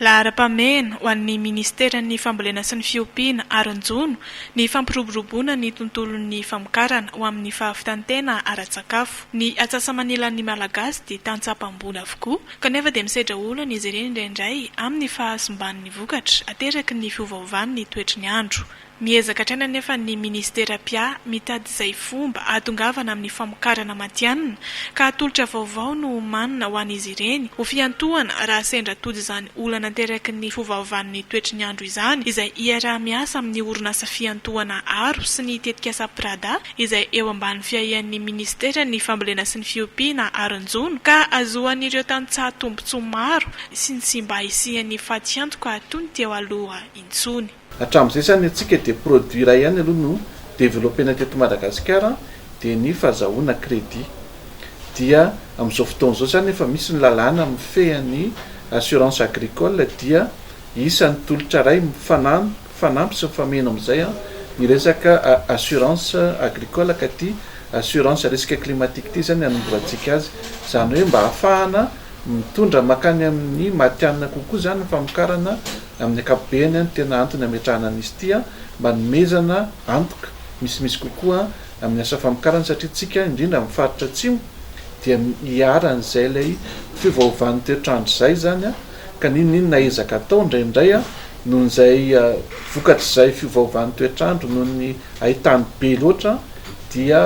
Laharam-pahamehana ho an'ny Minisiteran'ny Fambolena sy ny Fiompiana ary ny Jono ny fampiroboroboana ny tontolon'ny famokarana ho amin'ny fahavitan-tena ara-tsakafo. Ny atsasa-manilan'ny Malagasy dia tantsaham-pamboly avokoa kanefa dia misedra olana izy ireny indraindray amin'ny fahasimban'ny vokatra ateraky ny fiovaovan'ny toetry ny andro. Miezaka hatrany anefa ny Ministera pia mitady izay fomba hahatongavana amin'ny famokarana matihanina ka hatolotra vaovao no homanina ho an'izy ireny ho fiantohana raha sendra tojo izany olana aterakin'ny fovaovan'ny toetry ny andro izany izay iaraha-miasa amin'ny orinasa fiantohana aro sy ny tetikasa Prada izay eo ambany fiahian'ny Ministeran'ny fambolena sy ny fiompiana aron-jono ka ahazoan'ireo tantsaha tombotsoa maro sy ny tsy mba hisian'ny fatiantoka toy ny teo aloha intsony. Hatramin'izay izany antsika dia produit iray ihany aloha no developena teto Madagasikara dia ny fazahoana crédit. Dia amin'izao fotoana izao izany efa misy ny lalàna mifehy an'ny assurance agricole dia isan'ny tolotra iray mifanampy sy mifameno amin'izay ny resaka assurance agricole ka ity assurance risque climatique ity izany hanombohantsika azy. Izany hoe mba hahafahana mitondra mankany amin'ny matihanina kokoa izany ny famokarana Amin'ny ankapobeny, ny tena antony ametrahana an'izy ity mba hanomezana antoka misimisy kokoa amin'ny asa famokarana satria isika, indrindra amin'ny faritra Atsimo, dia iharan'izay ilay fiovaovan'ny toetr'andro izay izany ka n'inon'inona ezaka atao indraindray noho izay vokatr'izay fiovaovan'ny toetr'andro noho ny haitany be loatra dia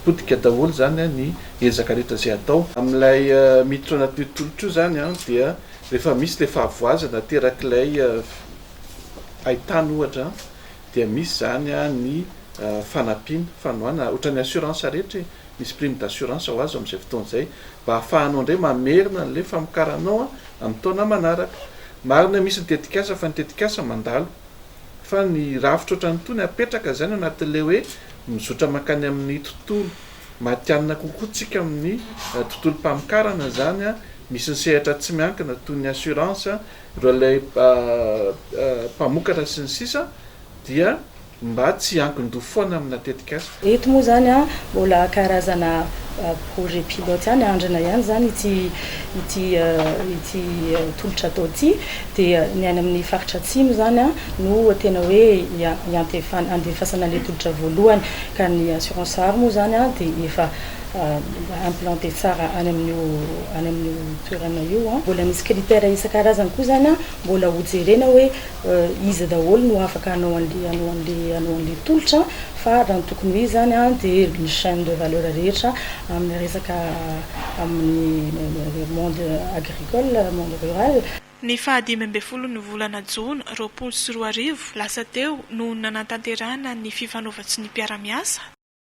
potika daholo izany ny ezaka rehetra izay atao amin'ilay mitotrana toetr'olitra io izany dia Rehefa misy ilay fahavoazana aterak'ilay haitany ohatra dia misy izany ny fanampiana, fanohanana, ohatran'ny assurance rehetra e, misy prime d'assurance ho azo amin'izay fotoana izay mba hahafahanao indray mamerina an'ilay famokaranao amin'ny taona manaraka. Marina hoe misy ny tetikasa fa ny tetikasa mandalo fa ny rafitra ohatran'itony apetraka izany ao anatin'ilay hoe mizotra mankany amin'ny tontolo Matihanina kokoa tsika amin'ny tontolom-pamokarana izany, misy ny sehatra tsy miankina toy ny assurance, ireo ilay mpamokatra sy ny sisa dia mba tsy hiankin-doha foana amina tetikasa. Eto moa izany mbola karazana projet pilote ihany, andrina ihany izany ity ity ity tolotra atao ity dia ny any amin'ny faritra atsimo izany no tena hoe iantefan andefasana ilay tolotra voalohany ka ny assurance art moa izany dia efa implanter tsara any amin'io any amin'io toerana io an, mbola misy critère isan-karazany koa izany an, mbola ho jerena hoe iza daholo no afaka hanao an'ilay hanao an'ilay hanao an'ilay tolotra fa raha ny tokony ho izy izany an dia ny chaine de valeur rehetra amin'ny resaka amin'ny monde agri Nicole, Monde Rural. Ny faha dimy ambin'ny folo ny volana jona roapolo sy roa arivo lasa teo no nanatanterahana ny fifanaovan-tsonia mpiara-miasa,